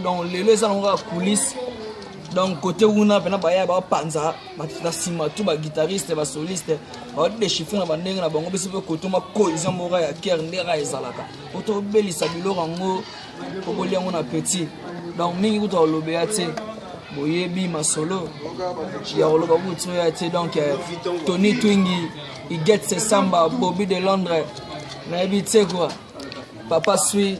donc lelo eza nango kaka coulisse donc kote kuna mpena baya bapanza na nsima tu baguitariste basoliste badechifre na bandenge na bango biso mpe kotoma cohésion moko ya kere nde kaka ezalaka po tobelisa biloko yango okoli yango na petit donc mingi kutu alobela te boyebi masolo ya koloba kutu ya te donc eh, tony twingi iget sesamba bobi de londres nayebi te kua papa sui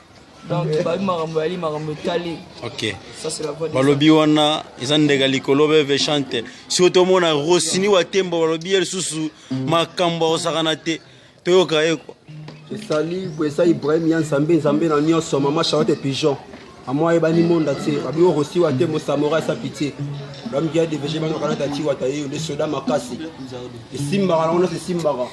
donc bayebi makambo yali makambo etali ok balobi wana eza ndeka likolo beve chante soki tomona rosini wa tembo balobi ye lisusu makambo akosakana te toyoka ye kua esali eza ibrahim ya nzambe nzambe na nyonso mama charlotte pigeon amo ayebani monda te babi orosi wa te mosamora esa pitie bamiki ya devege bana kanata tiwata yeyo nde soda makasi esimbaka nango nyonso esimbaka